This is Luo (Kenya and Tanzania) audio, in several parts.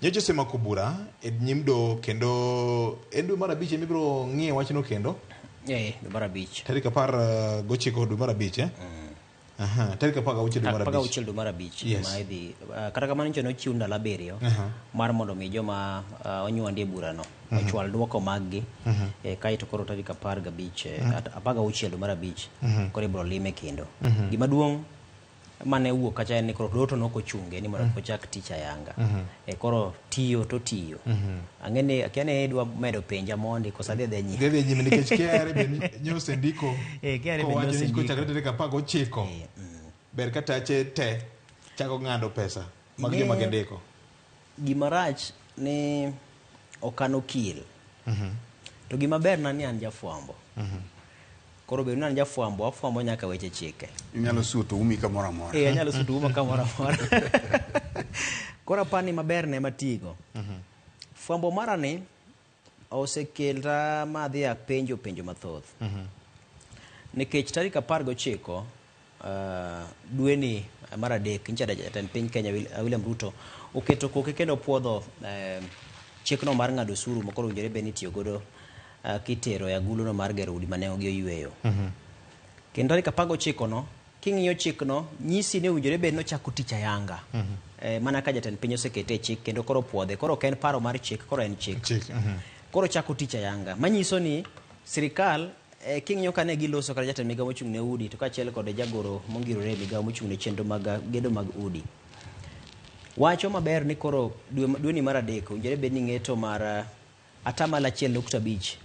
Nyocha osemako bura e nyim doho kendo en dwe mar abich ema ibiro ng'iye wachno kendo Eh, dwe mar abich. tarik apar eh, gochiko dwe mar abich eh? Aha, tarik apar gauchiel dwe mar Apaka abich auchiel dwe mar abich Yes. ma idhi. ah, Kata kamano nyocha nochiw ndalo abiriyo Aha. mar mondo mi joma ah, onywandi e burano ochwal dwoko maggi eh, kaeto koro tarik apar gabich eh, kata apar gauchiel dwe mar abich koro ibiro lime kendo. Gima duong' mane owuok kacha en ni koro Doto ne ok ochunge ni mondo kik ochak tich ayanga. E koro tiyo to tiyo. Ang'e ni akia ni idwa medo penja mondi koso adhi adhi nyime. Dhedhi nyime nikech KRA be nyose ndiko Eh, KRA be kowacho nyose ni kochakre tarik apar gochiko ber ka tache te chako ng'ado pesa mag joma gindiko. Gima rach ni ok an okil. To gima berna ni an jafwambo. Koro bedo ni an jafwambo, afwambo nyaka weche chike. Inyalo suto umi kamoro amora. Eh, anyalo suto uma kamoro amora. Koro apani maber ne matigo. Fwambo mara ni osekela ma adhi apenjo penjo mathoth nikech tarik apar gochiko ah, dweni eh, mar adek nyicha da- jatend piny kenya Wil- ah, william ruto oketo koke kendo opwodho eh, chikno mar ng'ado osuru ma koro owinjore bed ni itiyo godo ah, kitero e aguluno mar gero udi ma nengogi oyweyo kendo tarik apar gochikono King'iyo chikno, nyisi ni owinjore bed nochako tich ayanga. Eh, mana ka jatend piny osekete e chik kendo koro puodhe. Koro ok en paro mar chik, koro en chik. Chik. mhm. Koro chako tich ayanga. Manyiso ni sirikal eh, king'iyo ka ne giloso kata jatend migawo mochung' ne udi to kaachiel kod jagoro mongirore e migawo mochung' ne chenro mag ah, gedo mag udi. Wacho maber ni koro dwe, dweni mar adek owinjore bed ni ng'eto mar ah, atamalo achiel nukta abich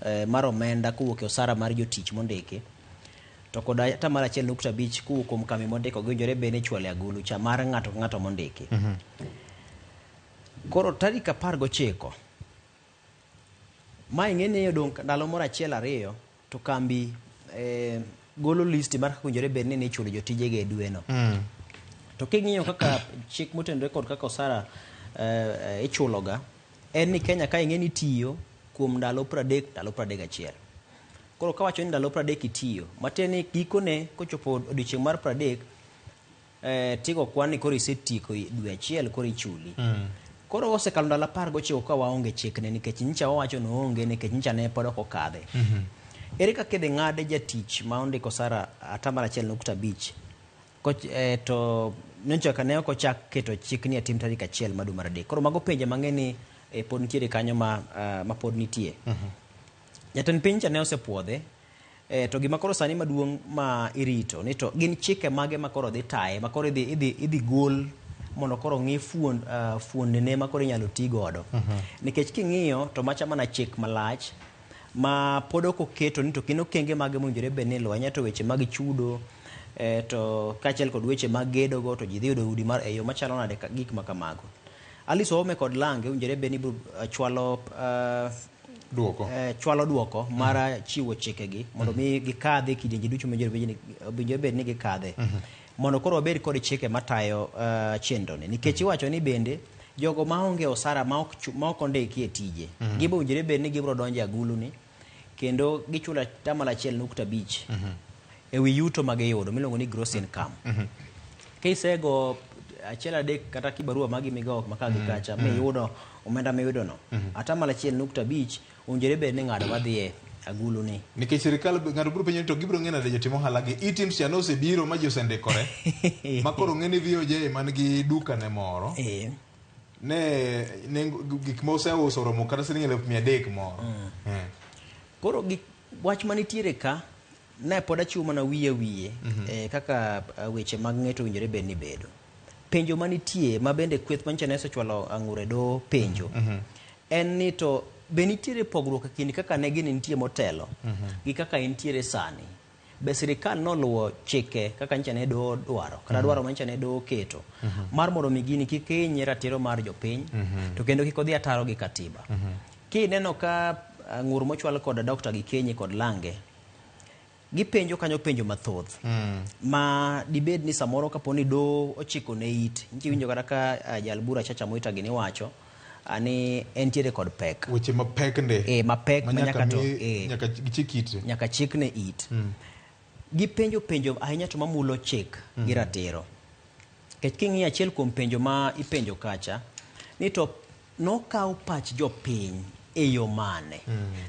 eh, mar omenda kowuok e osara mar jotich mondiki to kod atamalo achiel nukta abich kowuok kuom kambi mondiko giwinjore bed ni ichwalo e agulu cha mar ng'ato ka ng'ato mondiki koro tarik apar gochiko ma ing'e ni odong' ndalo moro achiel ariyo to kambi eh, golo listi mar kaka owinjore bed ni nichulo jotijege e dweno to king'iyo kaka chik motenore kod kaka osara eh, eh, ichuloga en ni kenya ka ing'e ni tiyo kuom ndalo pradek ndalo pradek achiel koro kawacho ni ndalo pradek itiyo matiende ni gikone kochopo odiochieng' mar pradek Eh, tieko kwan ni koro isetieko i- dwe achiel koro ichuli koro osekalo ndalo apar gochiko ka waonge chikne nikech nyicha wawacho ni oonge nikech nyicha ne pod ok okadhe ere kaka idhi ng'ade jatich ma ondiko sara atamar achiel nukta abich Koch- eh, to nyocha ka ne ok ochak keto chik ni atim tarik achiel ma dwe mar adek koro mago penje mang'e ni eh, pod nitiere kanyo ma, ah, ma pod nitie jatend piny cha ne osepuodhe E, to gima koro sani maduong' ma irito ni to gin chike mage ma koro dhi taye ma koro idhi, idhi, idhi gol mondo koro ng'i fuon, uh, fuondene ma koro inyalo ti godo nikech king'iyo to macha mana chik malach ma pod ok oketo ni to gin okenge mage mowinjore bed ni iluwo to weche mag chudo eh, to kaachiel kod weche mag gedogo to ji dhi yudo udi mar eyo machalo nade ka- gik ma kamago alice oome kod lange owinjore bed ni biro eh, chwalo eh, Dwoko. eh, chwalo dwoko mar chiwo chikegi mondo mi gikadhe e kidienje duto mowinjore bed ni- owinjore bed ni gikadhe mondo koro wabed kod chike matayo eh, chenroni nikech iwacho ni bende jogo maonge osara ma ok chu- ma ok ondiki e tije Mhm. gibo owinjore bed ni gibiro donjo e aguluni kendo gichulo atamalo achiel nukta abich e wi yuto ma giyudo miluongo ni gross income. Kisego achiel adek kata kibarua magi migawo ma ka gi kacha miyudo omenda miyudono, atamalo achiel nukta abich owinjore bed ni ng'ado madhi e aguluni. Nikech sirkal be- ng'ato biro penjo ni to gibiro ng'e nade jotim ohala gi e-teams cha nosebiro ma ji osendikore ma koro ng'e ni VOJ man gi dukane moro Eh, ne nengo gik ma oseuso oromo kata siling elfu mia adek moro. Eh. Koro gik Wach manitiere ka ne pod achiwo mana wiye wiye mm -hmm. e, kaka eh, weche mag ng'eto owinjore bed ni bedo penjo manitie ma bende kweth manyicha ne osechwalo ang'ure do penjo mm -hmm. en ni to be nitiere pogruok e kind kaka ne gini nitie motelo mm -hmm. gi kaka intiere sani be sirikal noluwo chike kaka nyicha ne doho dwaro kata mhm. dwaro ma nyicha ne doho keto mhm. mar mondo mi gini kik hiny ratiro mar jopiny mhm. to kendo kik odhi ataro gi katiba Kineno ka ng'ur mochwal kod Dr. Gikenyi kod Lange, gipenjo kanyo penjo mathoth mm. ma dibed ni samoro kapo ni do ochiko ne it nitie winjo kata ka uh, jal bura chacha moita gini wacho ah, ni entiere kod pek weche mapek nde e, eh, mapek ma nyaka to e, nyaka chik ite nyaka chik ne it mm. gipenjo penjo ahinya to mamulo chik mm. gi ratiro kech king'iyo achiel kuom penjo ma ipenjo kacha ni to Nokawo pach jopiny e yo mane?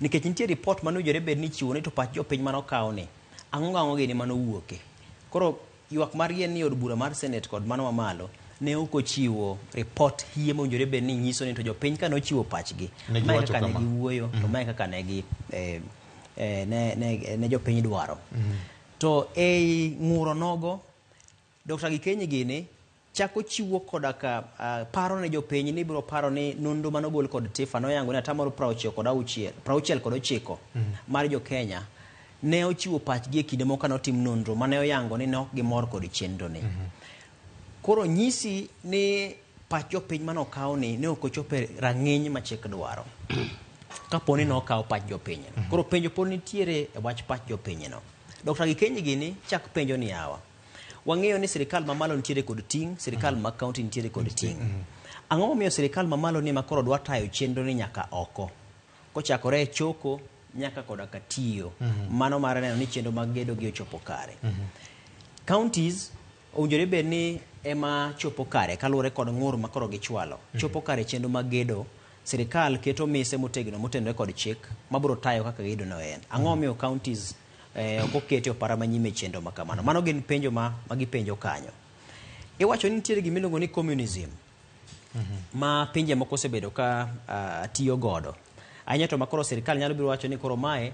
Nikech nitie ripot mane owinjore bed ni ichiwo ni to pach jopiny mane okaw ni, ang'o gi ang'o gini mane owuoke. Koro ywak margi en ni od bura mar Senate kod mano mamalo ne ok ochiwo ripot hie mowinjore bed ni nyiso ni to jopiny kane ochiwo pachgi, Ne mae giwacho kaka ne kama. giwuoyo, to mae kaka ne gi eh, eh, ne, ne, ne jopiny dwaro. To ei ng'uro nogo, Dokta Gikenyi gini chako chiwo koda ka ah, paro ne jopiny ni ibiro paro ni nonro mane ogol kod Tifa noyango ni atamalo prauchiel kod auchiel prauchiel kod ochiko mar jo Kenya ne ochiwo pachgi e kinde moko kane otim nonro mane oyango ni ne ok gimor kod chenro ni. Koro nyisi ni pach jopiny mane okaw ni ne ok ochop e rang'iny ma chik dwaro. kapo ni nokawo pach jopiny. Koro penjo pod nitiere e wach pach jopinyno. Dr. Gikenyi gini chak penjo ni yawa. Wang'eyo ni sirkal mamalo nitiere kod ting', sirkal mm. mag kaunti nitiere kod ting'. Mm. Ang'o momiyo sirkal mamalo ni makoro dwa tayo chenro ni nyaka oko? Kochakore e choko nyaka koda ka tiyo. Mm -hmm. Mano mar neno ni chenro mag gedo gi ochopo kare. Mm -hmm. Counties owinjore bed ni ema chopo kare kaluwore kod ng'ur ma koro gichwalo. Mm -hmm. Chopo kare chenro mag gedo sirkal keto mise motegno motenore kod chik mabiro tayo kaka gedo no en. Ang'o momiyo mm -hmm. counties eh, ok okete opara manyime e chenro ma kamano mano gin penjo ma, ma gipenjo kanyo iwacho ni nitiere gima iluongo ni communism ma pinje moko osebedo ka ah, tiyo godo ahinya to makoro sirikal nyalo biro wacho ni koro mae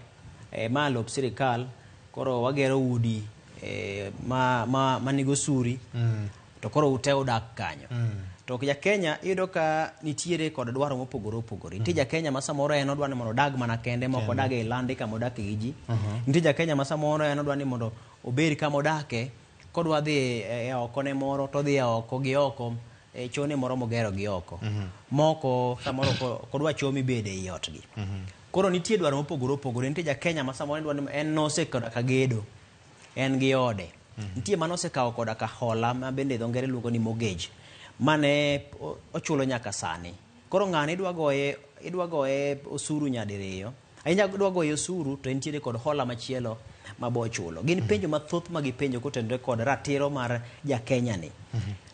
eh, ma lop sirikal koro wagero udi eh, ma, ma, ma nigo suri to koro ute udak kanyo to ja Kenya iyudo ka nitiere kod dwaro mopogore opogore nitie ja Kenya ma samoro en odwa ni mondo odag mana kende moko odag e landi kama odak gi ji nitie ja Kenya ma samoro en odwa ni mondo obed kama odake kodwa dhi e e oko ne moro to odhi e oko gi oko e chone moro mogero gi oko moko samoro ko- kodwa chomi bede ei otgi koro nitie dwaro mopogore opogore nitie ja Kenya ma samoro en dwa ni en nose koda ka gedo en gi ode nitie mane osekawo koda ka hola ma bende dho ngere luongo ni mortgage mane o- ochulo nyaka sani koro ng'ani idwa goye idwa goye osuru nyadiriyo ahinya idwa goye osuru to entiere kod hola machielo ma bo ochulo gin penjo mathoth ma gipenjo kotenore kod ratiro mar jakenya ni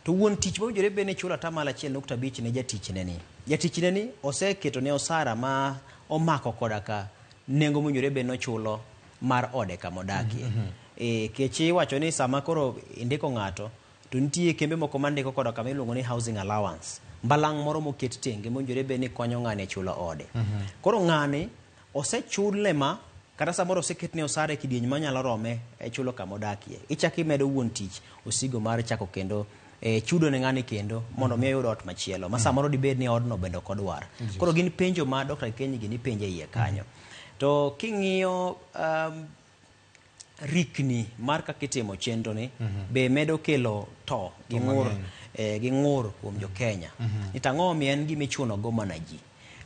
to wuon tich mowinjore bed ni chulo atamalo achiel nukta abich ne jatichne ni jatichne ni oseketo ne osara ma omako koda ka nengo mowinjore bed ni ochulo mar ode kama odakie. Eh, Kech iwacho ni sama koro indiko ng'ato to nitie kembe moko mandiko koda kama iluongo ni housing allowance. Mbalang' moro moket tenge mowinjore bed ni konyo ng'ani e chulo ode. Koro ng'ani osechule ma kata samoro oseketne osara e kidieny manyalo rome e chulo kama odakie. Ichako imedo wuon tich osigo mar chako kendo e, chudo ne ng'ani kendo mondo mi oyud ot machielo ma samoro dibed ni odno bende ok odwar. Koro gin penjo ma Dr. Kenyi gi nipenje iye kanyo. To king'iyo um, rikni mar kaka itimo chenro ni be medo kelo to gi ng'ur eh, gi ng'ur kuom jo Kenya ni to ang'o omiyo en gima ichuno go mana ji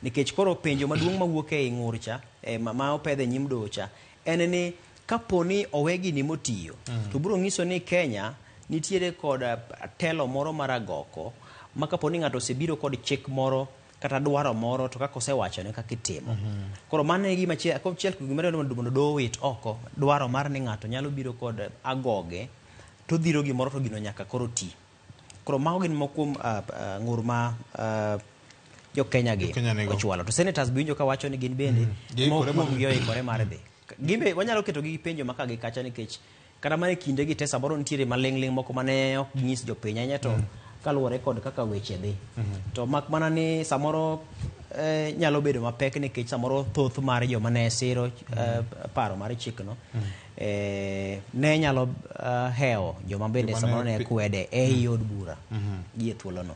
nikech koro penjo maduong' mawuok ei ng'ur cha eh, ma, ma opedhe nyim doho cha en ni kapo ni owe gini motiyo to biro nyiso ni Kenya nitiere kod eh, telo moro mar agoko ma kapo ni ng'ato osebiro kod chik moro kata dwaro moro to kaka osewachone kaka itimo koro mano e gima chie- achiel kuom gima dwarore mondo doho owit oko dwaro mar ni ng'ato nyalo biro kod agoge to odhiro gimoro to gino nyaka koro ti Koro mago gin moko kuom ah, ah, ng'ur ma ah, jo-Kenya gi Jo-Kenya nigo. ochwalo. To senators be winjo ka wacho ni gin bende Giikore moko mar- kuomgi oikore mar dhi. Gin be wanyalo keto gi penjo ma ka gi kacha nikech kata mana e kinde gi te samoro nitiere maling'ling' moko mane ok ginyis jopiny ahinya to kaluwore kod kaka weche dhi. To mak mana ni samoro eh, nyalo bedo mapek nikech samoro thoth mar joma ne siro eh, paro mar chikno eh, ne nyalo eh, hewo joma bende Joma ne samoro ne pi- kwede e i od bura gi e thuolono